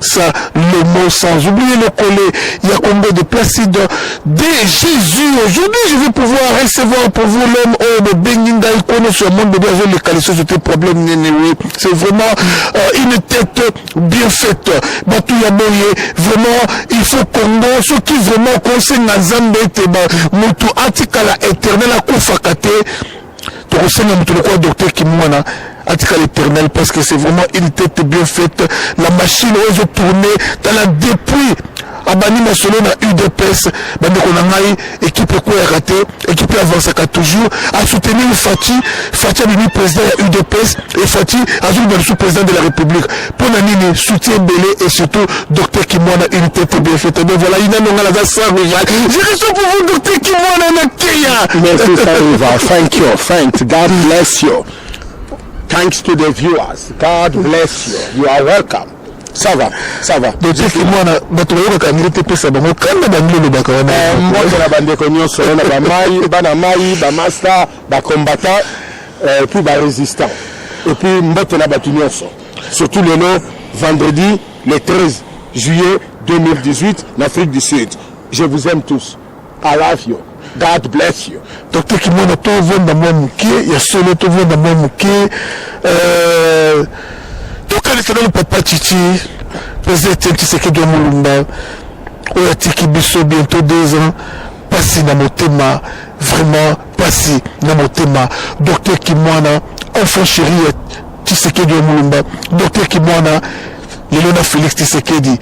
ça le mot sans oublier le collet ya Congo de Placide de Jésus aujourd'hui je vais pouvoir recevoir pour vous l'homme oyo bobengi ngai kono sur monde bebe azoleka lisusu c'était problème nene oui c'est vraiment euh, une tête bien faite bato ya boye vraiment il faut Congo soki vraiment okosenga nzambe ete moto atikala éternel akufaka te tokosenga moto lokola docteur kimwana atika l'éternel parce que c'est vraiment une tête bien faite la machine oyo ezo tourne tala depuis abandi masolo na udps bandeko na ngai ekipe ekweyaka te ekipe avansaka toujours asoutenir fati fati abimi président ya udps e fati azoloba lisusu président de la république pona nini soutien ebele et surtout docteur kimwana une tête bien faite mais voilà ina nonga naza sans rival je reste pour vous docteur kimwana na keya merci sans rival thank you thanks god bless you thanks to the viewers god bless you you are welcome ça va ça va docteur kimwana bato bayokaka yango te pesa bango kanda bango olobaka wana eh, mbote na bandeko nyonso na bamai bana mai bamasta bacombattant et puis ba resistant et puis mbote na batu nyonso surtout lelo vendredi le 13 juillet 2018 na Afrique du Sud je vous aime tous I love you God bless you. Dr Kimona, tovanda mwa moke ya solo, tovanda mwa moke euh, tokanisa nanu papa Chichi, président Etienne Tshisekedi wa Mulumba oyo atiki biso bientôt deux ans, pasi na motema vraiment Pasi na motema Docteur Kimwana enfant chéri ya Tshisekedi ya Mulumba Docteur Kimwana lelo na Felix Tshisekedi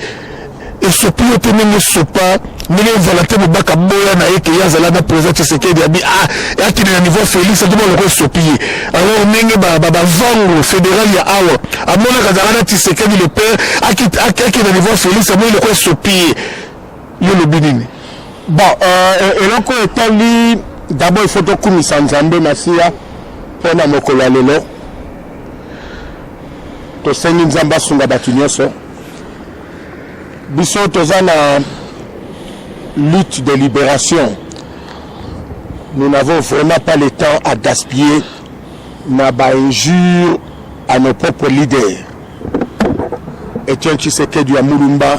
esopi yo te ndenge esopa ndenge valante mobaka boya na ye keye azala na président tshisekedi abi ah, akende na niveau félix atoma loko esopi ye alors ndenge bavango fédéral ya awa amonaka azalaka na tshisekedi le père akende na niveau félix amoni loko esopi ye Yo lobi nini? Bon, euh, eloko etali d'abord il faut tokumisa Nzambe Masiya mpo na mokolo ya lelo. Tosengi Nzambe asunga bato nyonso. Biso toza na lutte de libération. Nous n'avons vraiment pas le temps à gaspiller na ba injures à nos propres leaders. Etienne Tshisekedi ya Mulumba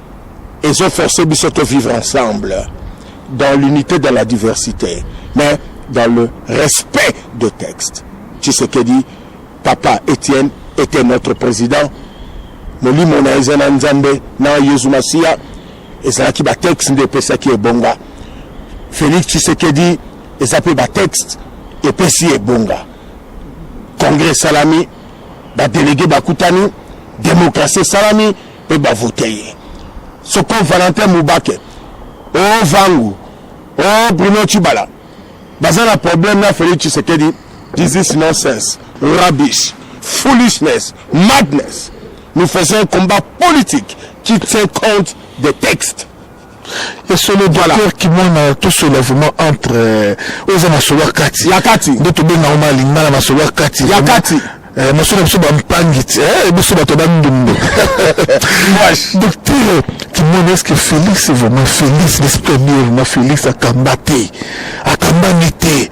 ezo forcer biso to vivre ensemble dans l'unité dans la diversité mais dans le respect de texte tshisekedi papa etienne était notre président molimo na eza na nzambe na yezu masiya ezalaki batexte nde epesaki ebonga félix tshisekedi eza mpe batexte epesi ebonga congrès esalami badelege bakutani demokrasi esalami pe ba vote ye soko valentin mubake o oh, vangu o oh, bruno chibala baza na problème na felix tshisekedi this is nonsense rubbish foolishness madness nous faisons un combat politique qui tient compte des textes ya solo docteur kimona tosola vraiment entre euh, oyo eza masolo ya kati ya kati nde tobenga yango malingala masolo ya kati ya kati eh, masolo ya biso bampangi ti eh, biso bato bandumbu docteur kimona eske félix vraiment félix l'esprit ami vraiment félix akamba te akambami te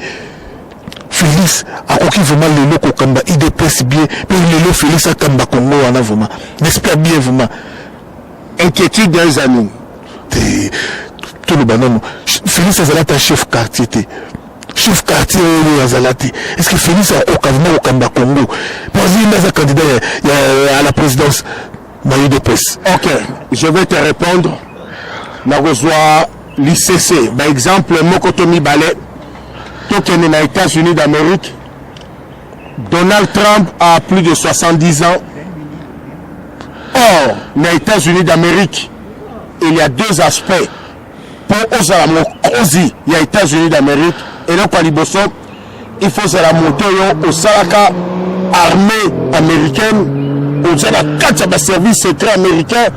félix akoki vraiment lelo kokamba idps bien mpe lelo félix akamba kongo wana vraiment l'esprit bien vraiment inquiétude eza nini te toloba nano félix azala ata chef quartier te chef quartier oyo azala te est ce que félix akoka vraimen kokamba congo mpo azali nde aza candidat à la présidence na udps ok je vais te répondre nakozwa licc baexemple moko to mibale tokende na états-unis d'amérique Donald Trump a plus de 70 ans. Or, na États-Unis d'Amérique, il y a deux aspects. Pour ozala mokozi ya États-Unis d'Amérique, et donc liboso, il faut ozala moto yo osalaka armée américaine, oza na kati ya baservice secret américain,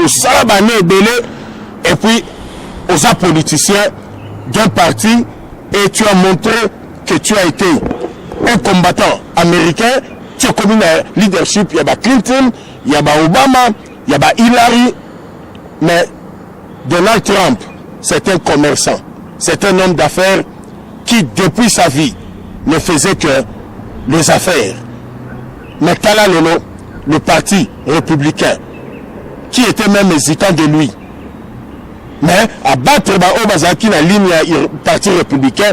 osala bane ebele, et puis oza politicien d'un parti, et tu as montré que tu as été un combattant américain ti okomi na leadership ya ba clinton ya ba obama ya ba hillary mais donald trump c'est un commerçant c'est un homme d'affaires qui depuis sa vie ne faisait que les affaires mais tala lelo le parti républicain qui était même hésitant de lui mais abattre baoyo bazalaki na ligne ya parti républicain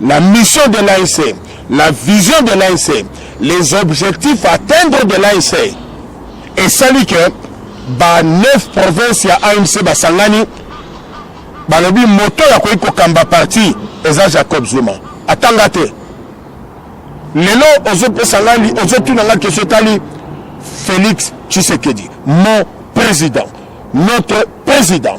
La mission de l'ANC, la vision de l'ANC, les objectifs à atteindre de l'ANC esali que ba 9 provinces ya ANC basangani balobi moto ya koki kokamba parti eza Jacob Zuma atanga te lelo ozopesa ngai ozotuna ngai kesho etali Félix Tshisekedi mon président notre président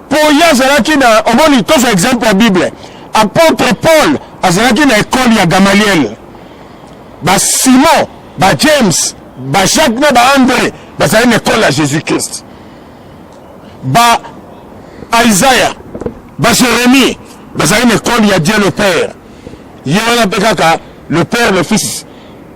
mpo ye azalaki na omoni tozwa exemple ya bible apôtre paul azalaki na ekole ya gamaliel basimon bajames bajacques na baandre bazali na ekole ya jésus christ ba isaya bajeremie bazali na ekole ya dieu le père ye wana mpe kaka le père le fils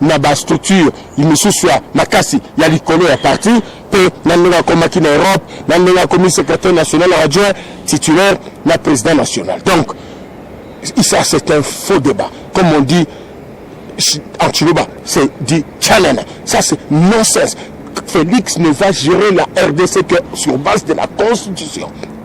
na ba structure misusu ya makasi ya likolo ya parti mpe na ndenge akomaki na europe na ndenge akomi secrétaire national adjoint titulaire na président national donc ça c'est un faux débat comme on dit en chiluba c'est dit chanana ça c'est nonsense félix ne va gérer la rdc que sur base de la constitution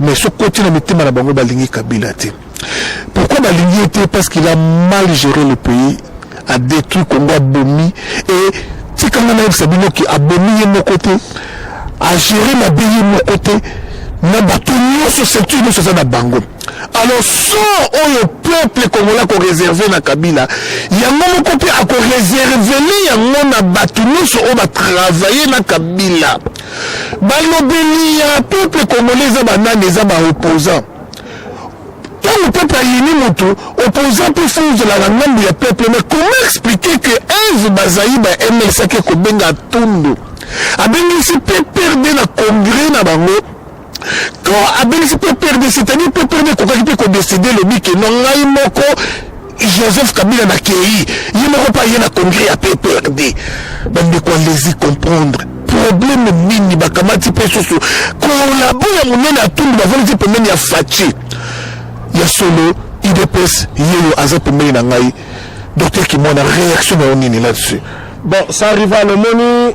Mais soki koti na mitema na bango balingi Kabila te. Pourquoi balingi ye te parce qu'il a mal géré le pays, a détruit Congo, abomi et tika nga nayebisa bino ki abomi ye moko te, a géré mabe ye moko te na bato nyonso ceinture nyonso eza na bango alors so oyo peuple congolais akoreserve na kabila yango moko mpe akoreservele yango na bato nyonso oyo batravaille na kabila Balobeli ya peuple congolais eza ba nani? Eza ba opposants. Tango peuple ayini moto, opposant mpe fo ozala na ngambo ya peuple. Mais comment expliquer que Eve Bazaiba ya MLC ake kobenga Tundu, abengisi PPRD na congrès na bango to abengisi mpe prd c'est-à-dire mpe prd ekokaki mpe kodeside elobi ke no ngai moko joseph kabila na kei ye moko mpe aye na congrès ya pprd bandeko alesi comprendre probleme nini bakamati mpe susu kolabo ya monene ya tundu bavandisi pembeni ya faci ya solo idps yeyo aza pembeni na ngai docteur kimwana réaction na yo nini là-dessus bon ça rival omoni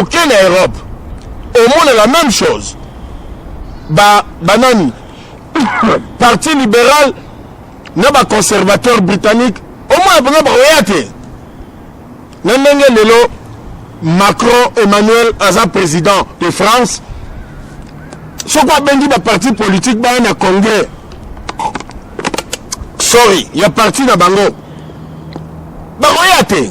oke na europe omona la même chose ba banani parti libéral na baconservateur britannique omona mpenza bakoya te na ndenge lelo macron emmanuel aza président de france soki abengi baparti politique baya na congrès sorry ya parti na bango bakoya te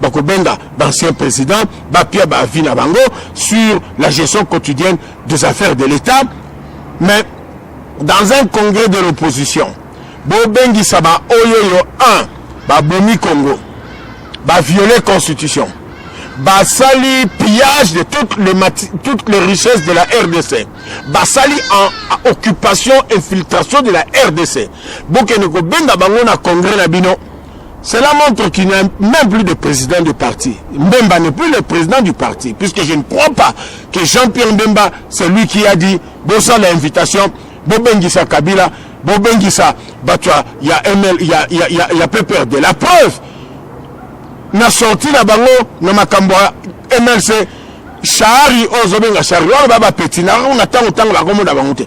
bakobenga d'anciens présidents bapia ba avis na bango sur la gestion quotidienne des affaires de l'État mais dans un congrès de l'opposition bobengisa baoyoyo 1 babomi Congo baviole constitution basali pillage de toutes les, toutes les richesses de la rdc basali en occupation infiltration de la rdc bokende kobenga bango na congrès na bino Cela montre qu'il n'y a même plus de président de parti. Mbemba n'est plus le président du parti, puisque je ne crois pas que Jean-Pierre Mbemba, c'est lui qui a dit, bossa l'invitation, bobengisa Kabila, bobengisa Batua, il y a ML, il y a, y a, y a, y a PPRD. La preuve, na sorti na bango na makambo ya MLC, Shari, ozobenga Shari, wana ba ba petit, na ntango ntango bakomona bango te.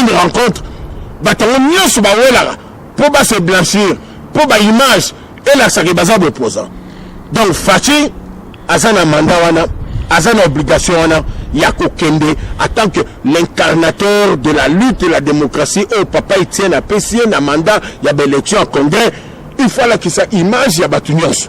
une rencontre bato yango nyonso bawelaka mpo ba se blanchir mpo ba image elakisaka baza bopoza donc faci aza na manda wana aza na obligation wana ya kokende en tant que l'incarnateur de la lutte de la démocratie oyo papa etienne apesi ye na manda ya baélection ya congrès il faut alakisa image ya bato nyonso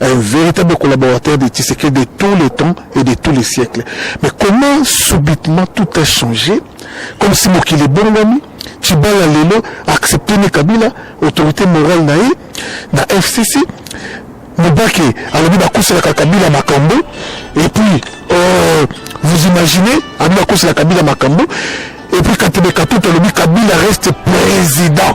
un véritable collaborateur de Tshisekedi de tous les temps et de tous les siècles. Mais comment subitement tout a changé Comme si Mokili Bongami, Tibala Lelo, accepté ni Kabila, autorité morale naï, na FCC, Mubake, alobi bakoselaka Kabila Makambo, et puis, euh, vous imaginez, alobi bakoselaka Kabila Makambo, et puis Katebe Katuta alobi Kabila reste président.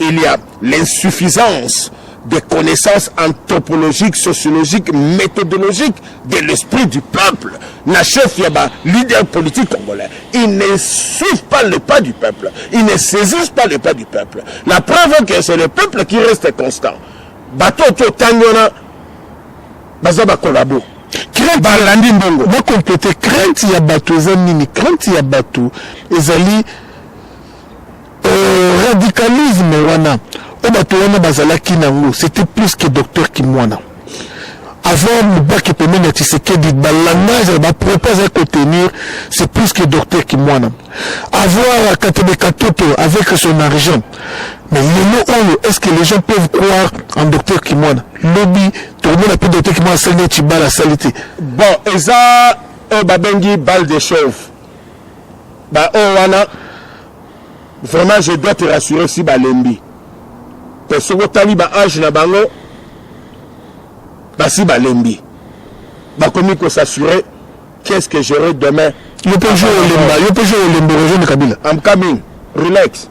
Il y a l'insuffisance des connaissances anthropologiques, sociologiques, méthodologiques de l'esprit du peuple. Na chef ya ba leader politique congolais. Ils ne suivent pas le pas du peuple. Ils ne saisissent pas le pas du peuple. La preuve est que c'est le peuple qui reste constant. Bato to tangona baza ba collabo. balandi mbongo bakomplete crainte ya bato eza nini crainte ya bato ezali Euh, radicalisme wana oyo bato wana bazalaki nango c'était plus que docteur kimwana avant mubaki pembeni ya tisekedi balangage bapropos azali kotenir c'est plus que docteur kimwana avoir katebe katoto avec son argent mais lelo oyo est ce que les gens peuvent croire en docteur kimwana lobi tokomona mpe docteur kimwana asali neti bala asali te bon eza oyo babengi balle de chauve baoyo wana Vraiment je dois te rassurer si balembi pe soki otali ba age na bango basi balembi bakomi ko s'assurer qu'est-ce que j'aurai demain yo pe jour olemba yo pe jour olemba rejoindre Kabila I'm coming relax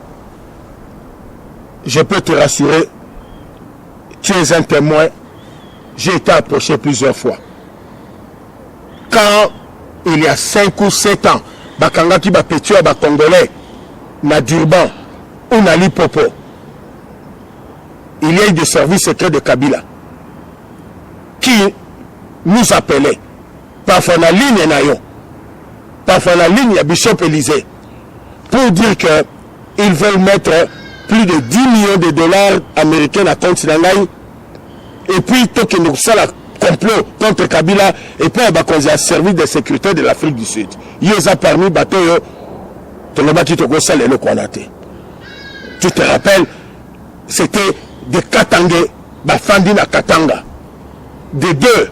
je peux te rassurer tu es un témoin j'ai été approché plusieurs fois quand il y a 5 ou 7 ans bakangaki ba petio ya ba congolais na Durban ou na Lipopo il y a eu des services secrets de Kabila qui nous appelait parfois na ligne na yo parfois na ligne ya Bishop Elysée pour dire que ils veulent mettre plus de 10 millions de dollars américains na compte na ngai et puis tokende kosala complot contre kabila epai ya bakonzi ya service de sécurité de l'afrique du sud yo eza parmi bato oyo tolobaki tokosala eloko wana te tu te rappelle c'était de katange bafandi na katanga de deux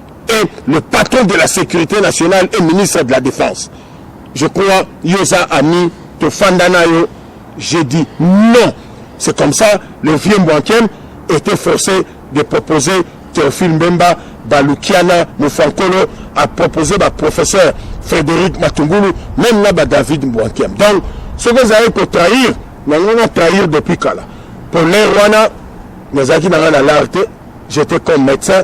et le patron de la sécurité nationale et ministre de la défense je crois yoza ami tofanda na yo j'ai dit non c'est comme ça le vieux mbwankem était forcé de proposer théophile mbemba balukiana mofankolo a proposé baprofesseur frédéric matungulu même na badavid mbwankem donc soki ezalaki kotrahir nango na trahir depuis kala polaire wana nazalaki nanga na lar te j'étais comme médecin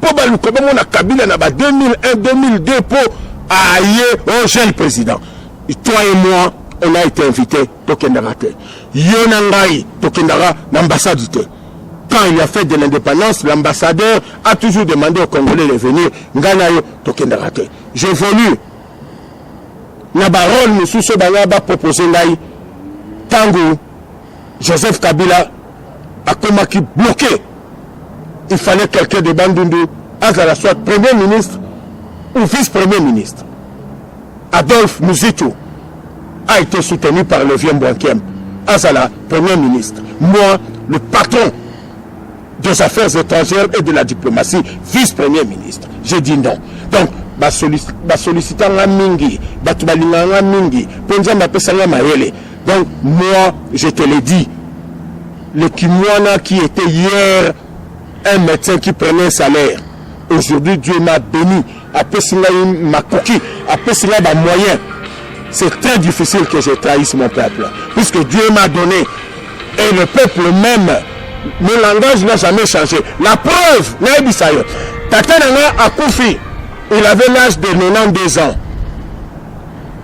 Po baluka bamona Kabila na ba 2001, 2002 po aye o jeune president. Toi et moi, on a été invité, tokendaka te. Yo na ngai, tokendaka na ambassade te. Quand il y a fête de l'indépendance, l'ambassadeur a toujours demandé aux Congolais de venir. Ngai na yo, tokendaka te. J'évolue na barole mosusu oyo banga bapropoze ngai ntango Joseph Kabila akomaki bloqué il fallait quelqu'un de Bandundu azala soit premier ministre ou vice-premier ministre Adolphe Muzitu a été soutenu par le vieux Mbwankem azala premier ministre moi le patron des affaires étrangères et de la diplomatie vice-premier ministre j'ai dit non donc basolisita nga mingi bato balingaka nga mingi mpo nzambe apesa nga mayele Donc moi je te le dis le Kimwana qui était hier un médecin qui prenait un salaire aujourd'hui Dieu m'a béni apesi ngai makoki apesi ngai bamoyen c'est très difficile que je trahisse mon peuple puisque Dieu m'a donné et le peuple même mon langage n'a jamais changé la preuve nayebisa yo tata na ngai akufi il avait l'âge de 92 ans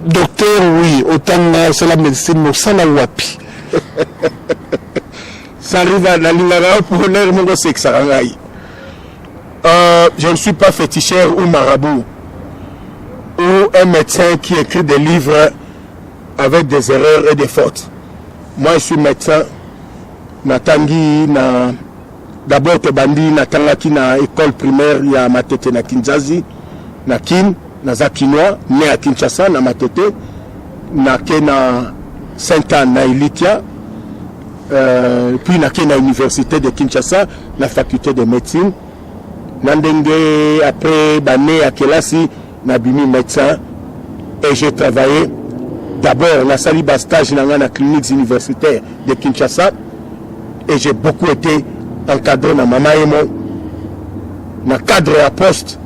Docteur oui otanga osala medicine mosala wapi sariva nalingaka yo mpo lere moko osekisaka ngai euh, je ne suis pas féticheur ou marabout ou un médecin qui écrit des livres avec des erreurs et des fautes moi je suis médecin natangi na D'abord tobandi natangaki na ecole primaire ya Matete na Kinzazi na Kin, naza kinois ne à Kinshasa na Matete na ke na Sainte Anne na Elitia euh, puis na ke na université de Kinshasa na faculté de médecine na ndenge après bane ya kelasi Na bimi medecin et j'ai travaille d'abord na sali ba stage na nga na cliniques universitaires de Kinshasa et j'ai beaucoup ete encadre na mama ye moi na cadre ya poste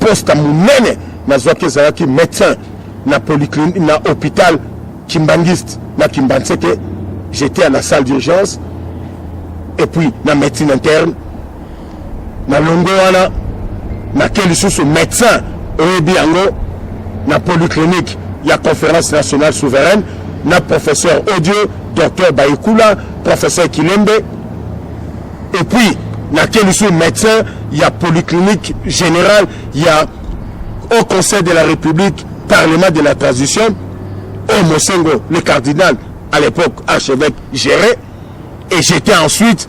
poste monene nazwaki ezalaki médecin na polyclinique na hôpital kimbanguiste na kimbanseke j'étais à la salle d'urgence et puis na médecine interne na longo wana nake lisusu médecin oyebi yango na polyclinique ya conférence nationale souveraine na professeur audio docteur baikula professeur kilembe et puis nake lisusu médecin ya polyclinique générale ya au conseil de la république parlement de la transition au mosengo le cardinal à l'époque archevêque géré et j'étais ensuite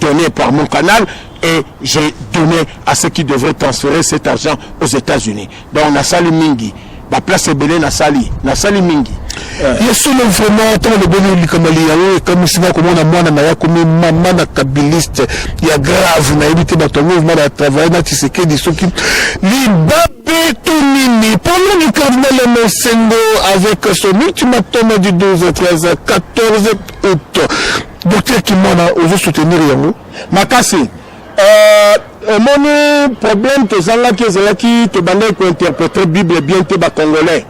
donner par mon canal et j'ai donné à ceux qui devraient transférer cet argent aux États-Unis. Donc na sali mingi, ba place ebele na sali, na sali mingi. ye solo vraiment ntango lobeli likambo liyango ekamwisi nga komona mwana na ye akomi mama na kabiliste ya grave nayebi te bato yango vraimen batravaille na tisekedi soki libabe to nini pendant du cardinal mosengo avec son ultimatum du 12 13 14 août docteur kimwana ozo soutenir yango makasi euh, omoni problème tozangaki ezalaki tobandaki kointerprète bible bien te bacongolais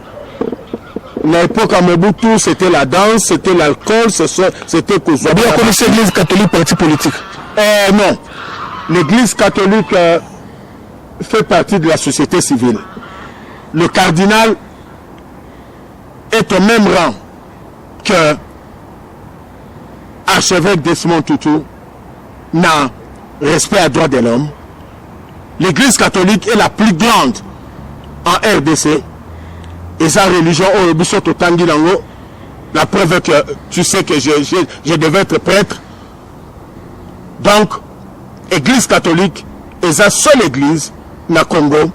na époque ya mobutu c'était la danse c'était l'alcool c'était kozwa boyakomisi église catholique parti politique euh, non l'église catholique euh, fait partie de la société civile le cardinal est au même rang que archevêque Desmond Tutu na respect à droit de l'homme l'église catholique est la plus grande en RDC et sa religion oyo biso totangi nango la preuve que tu sais que je, je, je devais être prêtre donc église catholique eza seule église na Congo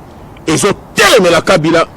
ezotelemela Kabila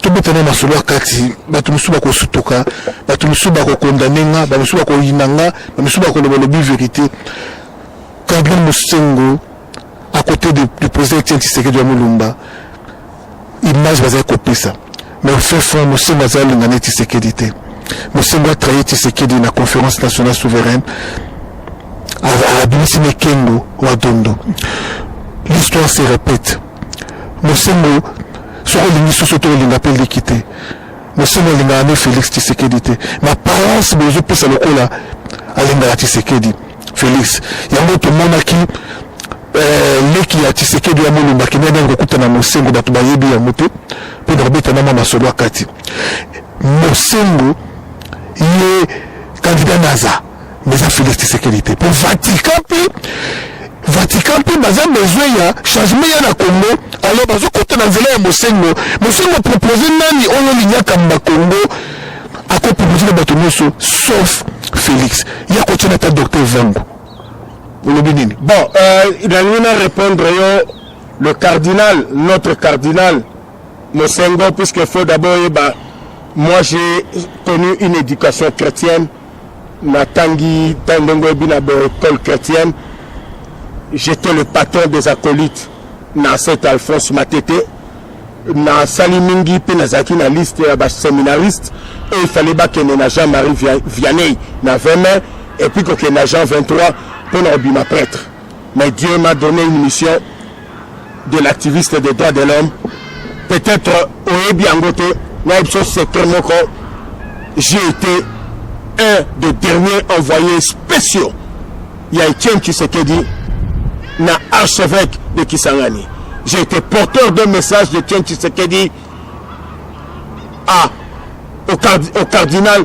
tobeta na masolo ya kati bato mosusu bakosutuka bato mosusu bakokondane nga bato mosusu bakoyina nga bato mosusu bakoloba lobi verité cardinal mosengo à côté de, du président etienne tshisekedi ya molumba image bazali kopesa mais fin fond mosengo azali alinga ne tshisekedi te mosengo atraye tshisekedi na conférence nationale souveraine abimisi mekengo wa dondo l'histoire se répète Mosengo soki olingi soso to olinga pe liki te mosengo alingaka nde Felix Tshisekedi te mais apparence bozo pesa lokola alingaka Tshisekedi Felix yango tomonaki eh, leki ya Tshisekedi ya Mulumba kende nde kokutana mosengo bato bayebi yango te mpo na kobeta na mwa masolo akati mosengo ye kandida naza mais eza Felix Tshisekedi te mpo Vatican mpe Vatican mpe baza besoin ya changement ya na Congo alors bazokota na nzela ya Mosengo Mosengo propose nani oyo oliniaka mba Congo akopropose na bato nyonso sauf Felix ya kotyana ata docteur Vango olobi nini bon euh, nalingi na répondre yo le cardinal notre cardinal Mosengo puisque faut d'abord yeba moi j'ai connu une éducation chrétienne natangi ntango ndenge oyebi na baecole chrétienne j'étais le patron des acolytes na saint alphonse matete nasali mingi mpe nazalaki na liste ya baseminariste oyo efale bakende na jean marie vianney na 20 mai epuis kokende na jean 23 mpo na kobima prêtre Mais Dieu m'a donne une mission de l'activiste des droits de l'homme. Peut-être oyebi yango te nayebi biso secret moko j'ai été un des derniers envoyés spéciaux ya Etienne Tshisekedi na archevêque de Kisangani. J'ai été porteur d'un message de Etienne Tshisekedi à, au, card, au cardinal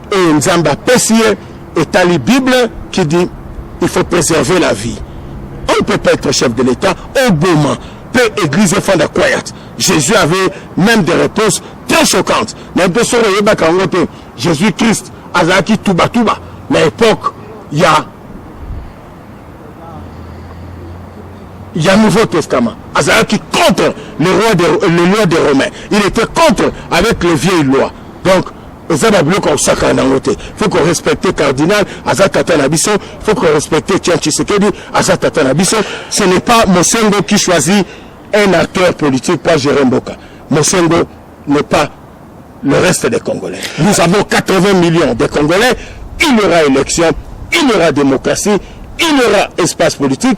oyo nzambe apesi ye etali bible qui dit il faut préserver la vie on ne peut pas être chef de l'état oboma mpe église efanda quiet jésus avait même des réponses très choquantes na mpe soko oyebaka yango te jésus christ azalaki tubatuba na époque ya ya nouveau testament azalaki contre le roi de, le loi des romains il était contre avec les vieilles lois donc eza ba biloko ya kosakana nango te faut ko respecter cardinal aza tata na biso faut ko respecter tian tshisekedi aza tata na biso ce n'est pas mosengo qui choisit un acteur politique pour gérer mboka mosengo n'est pas le reste des congolais nous avons 80 millions de congolais il y aura élection il y aura démocratie il y aura espace politique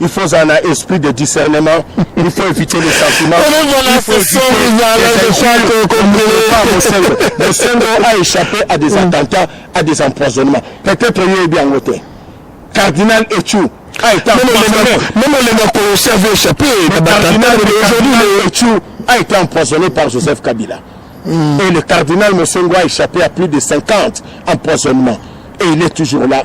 il faut ozala na esprit de discernement il faut éviter les sentiments mosengo mosengo a échappé à des attentats à des empoisonnements peut-être oyebi yango te cardinal echou a été empoisonné même olenga koyosi avait échappé na batantaa aujourd'hui le echou a été empoisonné par joseph kabila mm. et le cardinal mosengo a échappé à plus de 50 empoisonnements et il est toujours là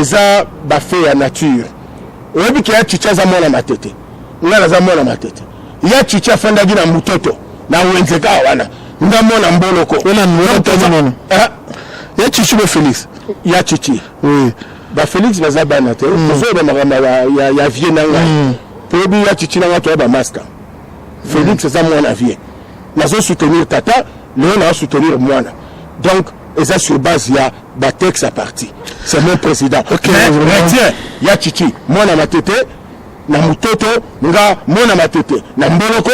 eza ba fait ya nature oyebi ke ya chicha aza mwana matete nga naza mwana matete ya chicha afandaki na mutoto na wenze kaka wana nga mwana mboloko eh? ya chichi bo felix ya chichi oui ba felix baza bana te mm. tozoyeba makambo ya vie na ngai mm. toyebi ya chichi na ngai toya bamaska felix eza mwana vie nazo soutenir tata lelo nazo soutenir mwana donc eza sur base ya ba texte à parti c'est mon président okay, retien ya chichi mwana matete na mutoto nga mwana matete na mboloko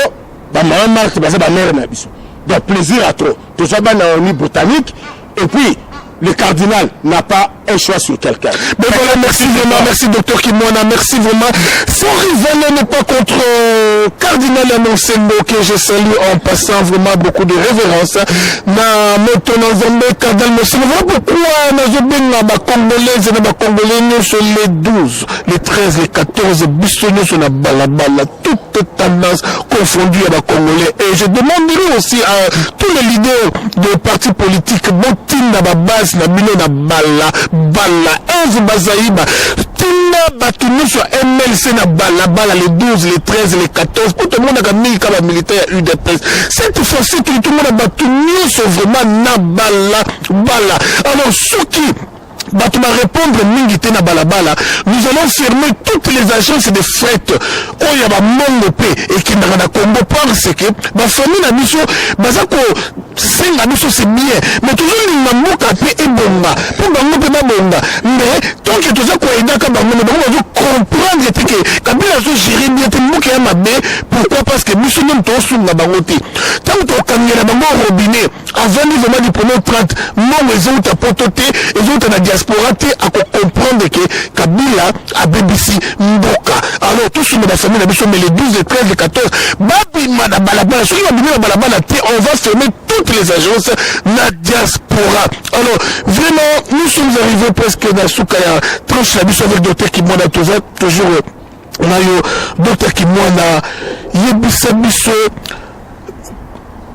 ba maman marque baza ba mère na biso donc plaisir à trop tozwa bana oni botanique et puis le cardinal n'a pas un choix sur quelqu'un. Mais voilà, merci vraiment, merci docteur Kimwana, merci vraiment. Son rival n'est pas contre euh, cardinal Anonsembo que je salue en passant vraiment beaucoup de révérence. na moto na nzambe kadal mosili voilà pourquoi nazobenga bacongolaise na bacongolais nyonso le 12 le 13 le 14 biso nyonso na balabala toute tendance confondue ya bacongolais et je demanderai aussi à tous les leaders de parti politique botinda babase na bino na bala bala eve bazayiba tinda bato nyonso ya mlc na balabala le 12 le 13 le 14 mpo tomonaka mingi ka bamilitaire ya udps cette fois-ci tolitomona bato nyonso vraiment na bala bala alors soki bato barépondre mingi te na balabala nous allons fermer toutes les agences de fret oyo ya bamongo mpe ekendaka na congo parce que bafamille na biso baza kosenga biso c'est bien mais tozolinga mboka mpe ebonga mpo bango mpe babonga mais tonke toza koaidaka bango me bango bazo comprendre te ke kabila azogere bien te mboka ya mabe pourquoi parce que biso nde moto osunga bango te ntango tokangela bango robinet avandi vraiment diplome 30 mbongo ezouta poto te ezouta na diaspora te akocomprendre ke kabila abebisi mboka alors tosunga bafamille na biso mais le 12 le 13 le 14 babima na balabala soki babimi na balabala te on va fermer toutes les agences na diaspora alors vraiment nous sommes arrivés presque na suka ya tranche na biso avec docteur kimona toza toujours nayo Docteur Kimwana yebisa biso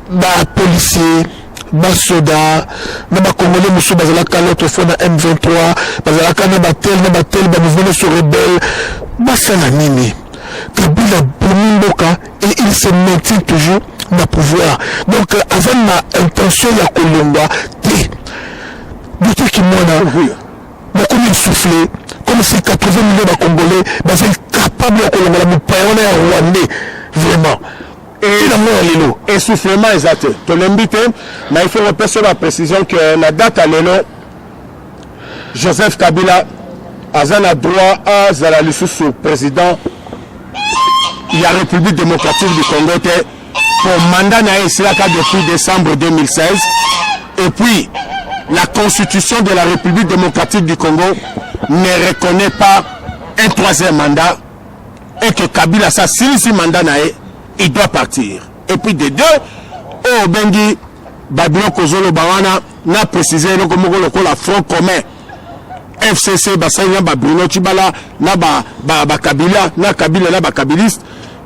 ba policiers basoda na bakongole mosusu bazalaka l'autre fois na m23 bazalaka na batel na batel bamouvement nyonso rebelle basala nini kabila abomi mboka et il se maintient toujours na pouvoir donc euh, aza na intention ya kolongwa te boteki mwana Bokomi essouffle comme si 80 millions ba congolais baza incapable ya kolongola mopaya wana ya rwandais vraiment tina mwana lelo essoufflement eza te tolembi te mais il faut kopesa ba précision que na date ya lelo joseph kabila aza na droit azala lisusu président ya république démocratique du congo te po mandat na ye esilaka depuis décembre 2016 et puis la constitution de la république démocratique du congo ne reconnaît pas un troisième mandat et que kabila sa silisi mandat na ye il doit partir et puis de deux oyo obengi babiloko ozoloba wana na précise eloko moko lokola front commun fcc basali na babruno cibala na bakabila ba, ba na kabila na bakabiliste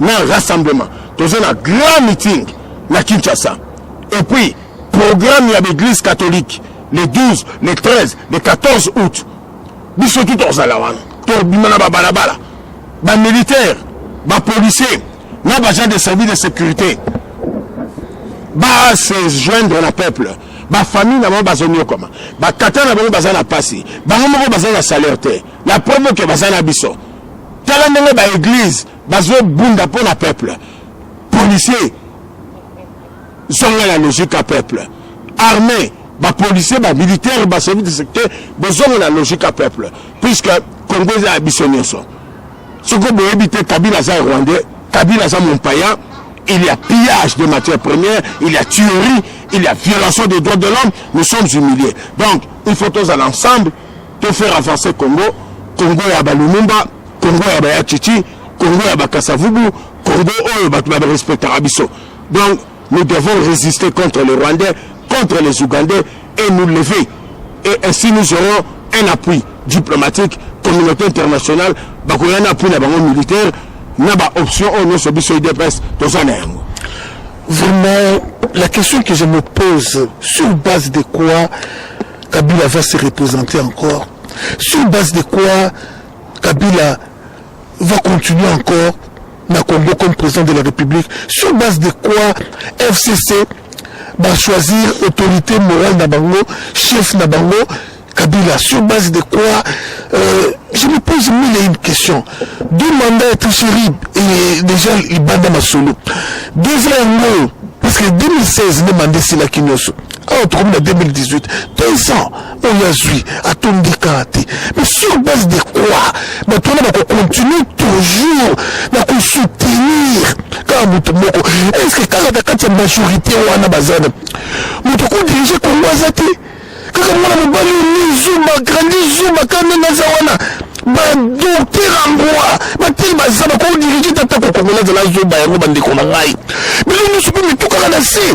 na rassemblement toza na grand meeting na kinshasa et puis programme ya baeglise catholique le 12 le 13 le 14 août biso tu tozala wana tobima na babalabala bamilitaire bapolicier na bagent de service de sécurité base joindre na peuple bafamille na bango bazoniokwama batata na bango baza na mpasi bango moko baza na salaire te La preuve que baza na biso. Tala ndenge ba église bazo bunda mpo na peuple. Policier zonga la logique ya peuple. Armée ba policier ba militaire ba chef de secteur bozonga la logique ya peuple puisque Congo eza ya biso nyonso. Soko boyebi te Kabila aza rwandais, Kabila aza mompaya il y a pillage de matières premières, il y a tuerie, il y a violation des droits de l'homme, nous sommes humiliés. Donc, il faut tous aller ensemble to faire avancer Congo Congo ya ba Lumumba Congo ya ba Yachichi Congo ya ba Kasavubu Congo oyo bato ba respectaka biso donc nous devons résister contre les Rwandais contre les Ougandais et nous lever et ainsi nous aurons un appui diplomatique communauté internationale bakoya na appui na bango militaire na ba option oyo nyonso biso udps toza na yango vraiment la question que je me pose sur base de quoi Kabila va se representer encore sur base de quoi Kabila va continuer encore na Congo comme président de la République sur base de quoi FCC va choisir autorité morale na bango chef na bango Kabila sur base de quoi euh, je me pose mille et une questions deux mandats et tout terrible et déjà libanda masolo deux ans yango parce que 2016 nde manda esilaki nyonso awa tokomi na 2018 deux ans oyo azwi atondika te mais sur base de quoi bato wana bakocontinue toujours na kosoutenir kaka moto moko estce kaka na kati ya majorité wana baza na moto kodirige kongo aza te kaka mwana mobali oni zuma grandi zuma kaka ndenge aza wana badokter yangoa batei baza bakodirige tata kokongola azala zoba yango bandeko na ngai bino nyonso mpe mitukaka na se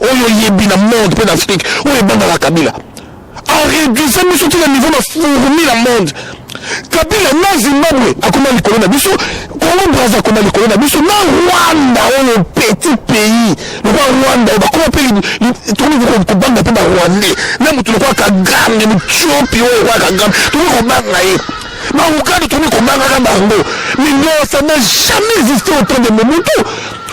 oyo oyebi na monde mpe na afrique oyo ebangaka kabila areduisa biso ti na niveau na fourmi na monde kabila na zimbabwe akoma likolo na biso kongo braza akoma likolo na biso na rwanda oyo petit pays lokola rwanda oyo bakoma mpe tokoki kobanga mpe barwandais na moto lokola kagame mutiopi oyo lokola kagame tokoki kobanga ye bauganda tokoki kobangaka bango mais non ça n'a jamais existé auprès de mobutu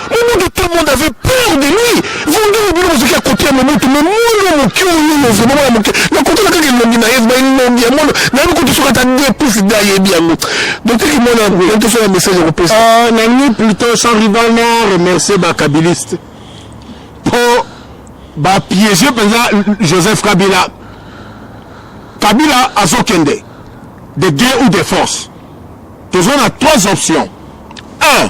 Mobutu tout le monde avait peur de lui vondeli bino bozoki ya kote ya mobutu me mwana moke oyoyo vraimen mwana moke nakotala kaka elongi na ye vraimen elongi ya mwana nayebi kutu soki ata de plus nde ayebi yango dokteki mwana yango yantoso ya message ya kopesa euh, nangi plutot sans rival na remercier bakabiliste mpo bapiége mpenza joseph kabila kabila azokende de gré ou de force toza na trois options un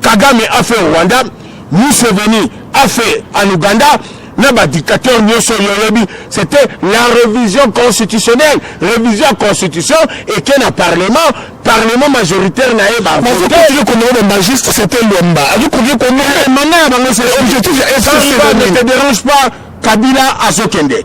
Kagame a fait au Rwanda, Museveni a fait en Ouganda, na ba dictateurs nyoso yoyebi, c'était la révision constitutionnelle, révision ya constitution eke na parlement, parlement majoritaire na ye ba vote. Okoki komona ba magiste c'était Luamba, azo koki komona Eh, mandat ya bango c'est objectif ya Ça, FCC. ça ne te dérange pas, Kabila azokende.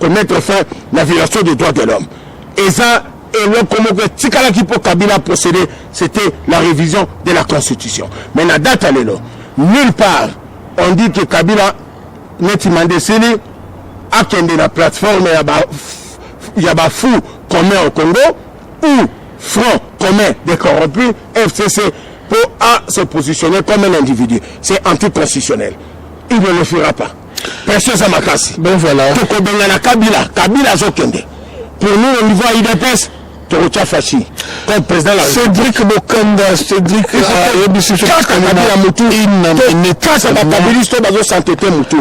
komettre fin na violation des droits de l'homme eza eloko moko etikalaki mpo kabila procédé c'était la révision de la constitution mais na date ya lelo nulle part on dit que kabila neti mande esili akende na plateforme ya ba ya bafou commun au congo ou front commun des corrompus fcc mpo a se positionner comme un individu c'est anticonstitutionnel il ne le fera pas pression eza makasi ben voilà tokobengana kabila kabila azokende pour nous au niveau ya udps tokotya fashi comme président la cédric bokanda cédric ayebisi euh, kaka kabila motu kaka bakabilisi to bazosantete motu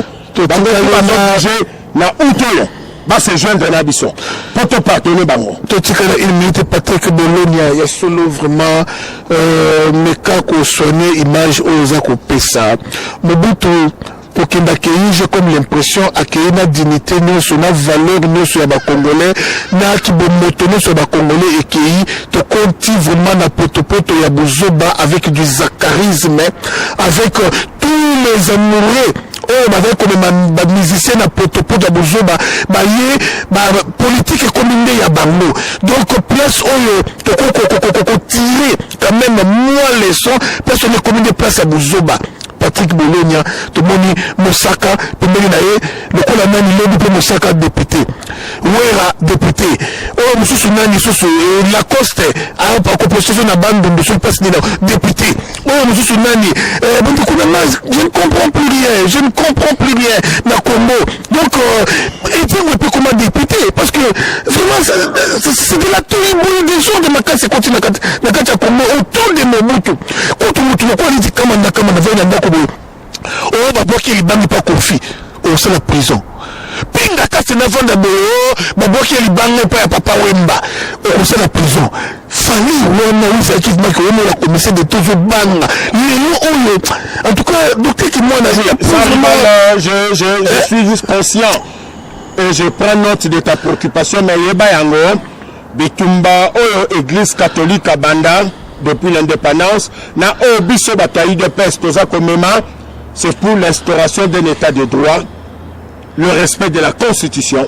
bango bazobouge na out oyo base joindre na biso mpo topardone bango totikala une minute patrick bolonia ya solo vraiment euh, meka kosoigne image oyo oza kopesa mobutu Kokende akeyi je comme l'impression akeyi na dignite nionso na valeur nionso ya ba congolais na kibomoto nionso ya ba congolais ekeyi tokonti vraiment na potopoto ya buzoba avec du zacharisme avec tous les amoureux oyo bazali komema bamusicien na potopoto ya buzoba baye bapolitike ekomi nde ya bango donc place oyo tokokokokokotire quand même mwa leçon place oyo ekomi nde place ya buzoba Patrick Bolonia tomoni Mosaka pembeni na ye lokola nani lobi mpe Mosaka depute Wera depute oyo mosusu nani susu eh, Lacoste akopostezo na bandundu soki mpasi nini depute oyo mosusu nani eh, bondeko na nga je ne comprends plus rien je ne comprends plus rien na Congo donc etiango euh, epekoma depute parce que vraiment c'est de la toiboye des gens de makasi ekoti na kati ya congo autour de mobutu kutu motu lokola neti kama na kama nazali na ndako boye oyo oh, babwaki libandi mpa kofi osala prison pinga kasi navanda boye oh, babwaki libanga epai ya papa wemba okosala prison famille wana oyo ezalaki ebimaki omona commissaire de tozo banga lelo oyo en tout cas docteur kimwana je, je, je eh? suis juste conscient et je prends note de ta préoccupation mais yeba yango bitumba oyo église catholique abanda depuis l'indépendance na oyo biso bato ya udps toza komema c'est pour l'instauration d'un état de droit le respect de la constitution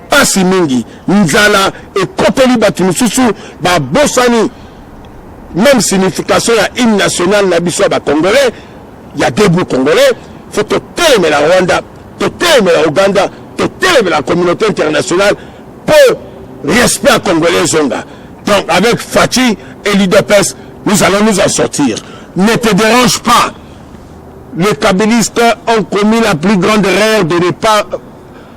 Pasi mingi, nzala ekoteli bato mosusu babosani meme signification ya hymne national na biso ya ba congolais ya debout congolais. Faut totelemela Rwanda, totelemela Uganda, totelemela communauté internationale mpo respect ya congolais ezonga. Donc avec Fatshi et l'UDPS, nous allons nous en sortir. Ne te dérange pas. Les kabilistes ont commis la plus grande erreur de ne pas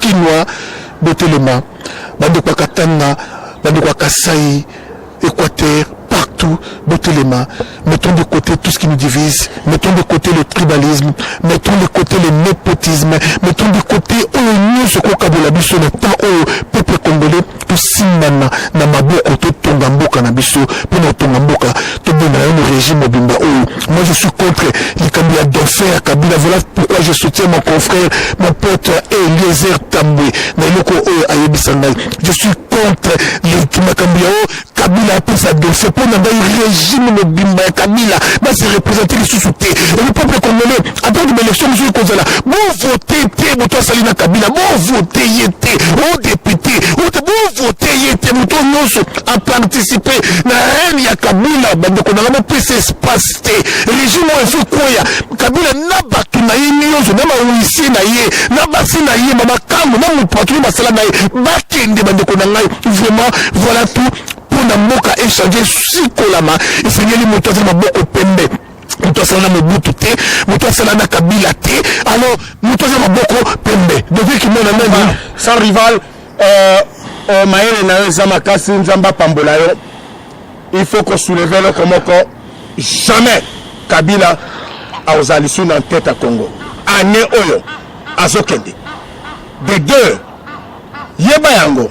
Kinois botelema bandeko ya Katanga bandeko ya Kasaï Equateur partout botelema mettons de côté tout ce qui nous divise mettons de côté le tribalisme mettons de côté le népotisme mettons de côté oyo nyonso kokabola biso na temps oyo peuple congolais tosimbana na maboko totonga mboka na biso mpo na kotonga mboka tobenda nano régime mobimba oyo moi je suis contre likambo ya dauphin ya kabila voilà pourquoi je soutiens mon confrère mon pote eliezer tambwe na eloko oyo ayebisa ngai je suis contre makambo ya oyo kabila apesa dauphin mpo na ngai régime mobimba ya kabila base représente lisusu te le peuple congolais atako baelektio mosusu ekozala bovote te moto asali na kabila bovote ye te o depute ote bovote ye te moto nyonso aparticipe na rene ya kabila bandeko na nga bopesa espace te regime oyo efo ekweya kabila na bato na ye nyonso na bawisie na ye na basi na ye na makambo na moto bato oyo basala na ye bakende bandeko na ngai vraiment voilà tout mpo na mboka echange sikolama esengeli moto azali maboko pembe moto asala na mobutu te moto asala na kabila te alors moto aza maboko pembe devie kimona nani ah, sans rival euh, euh, mayele na yo eza makasi nzambe apambola yo il faut kosouleve eloko moko jamais kabila akozala lisu na ntete ya congo ane oyo azokende de deux yeba yango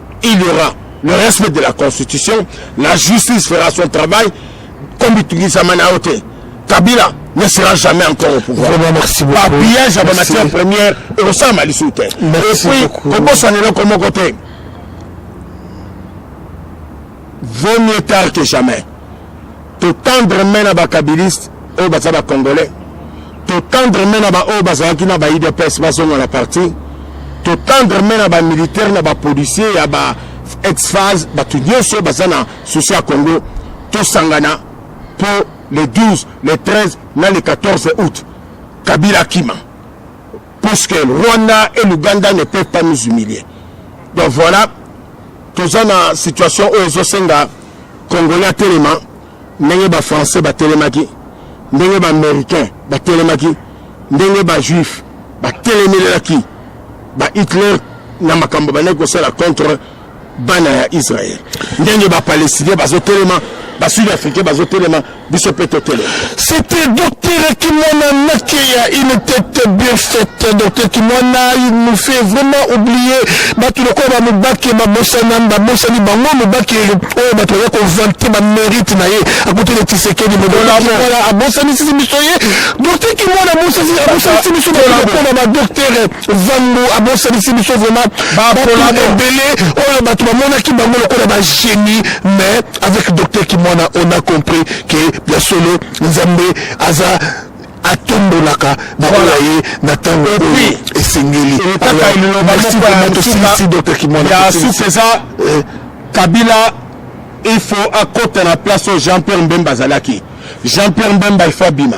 il y aura le respect de la constitution la justice fera son travail komitungisama na yo te kabila ne sera jamais encore au pouvoir bapillage ya bamatière première ekosalama lisusu te epuis kobosana eloko moko te Vaut mieux tard que jamais. To tendre main na ba kabilistes oyo baza ba congolais. To tendre main na ba oyo bazalaki na ba IDPS bazonga na parti. To tendre main na ba militaires na ba policiers ya ba ex-phase bato nyonso baza na souci ya Congo. Tosangana po le 12, le 13 na le 14 août. Kabila akima. Puisque Rwanda et l'Ouganda ne peuvent pas nous humilier. Donc voilà, toza na situation oyo ezosenga Congolais atelema ndenge ba Français batelemaki, ndenge ba Américains batelemaki, ndenge ba Juifs batelemelelaki ba Hitler na makambo bandaki kosala contre bana ya Israël ndenge ba palestiniens bazo telema ba sud africains bazo telema biso pe to telema c'était docteur Kimona Nakeya il était bien fait docteur Kimona il nous fait vraiment oublier batu lokola ba mubaki ba bosana ba bosani bango mubaki oyo batu ya ko vanter ba mérite na ye akuti le tisekedi modola voilà abosani sisi biso ye docteur Kimona abosani sisi biso ba docteur zambu abosanisi biso vraiment bapola ebele oyo bato bamonaki bango lokola bagenie mais avec docteur kimwana on a compris ke ya solo nzambe aza atombolaka baola ye na ntango oyo esengeli ya suka eza eh. kabila il faut akota na place oyo jean pierre mbemba azalaki jean pierre mbemba il faut abima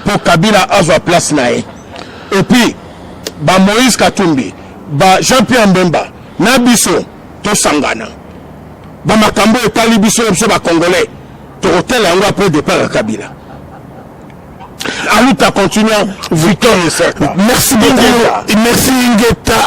mpo kabila azwa place na ye et puis ba moïse katumbi ba jean pierre mbemba na biso tosangana bamakambo oyo etali biso na biso bacongolais tokotala yango apres depart ya kabila aluta continua victor merci beaucoup merci ingeta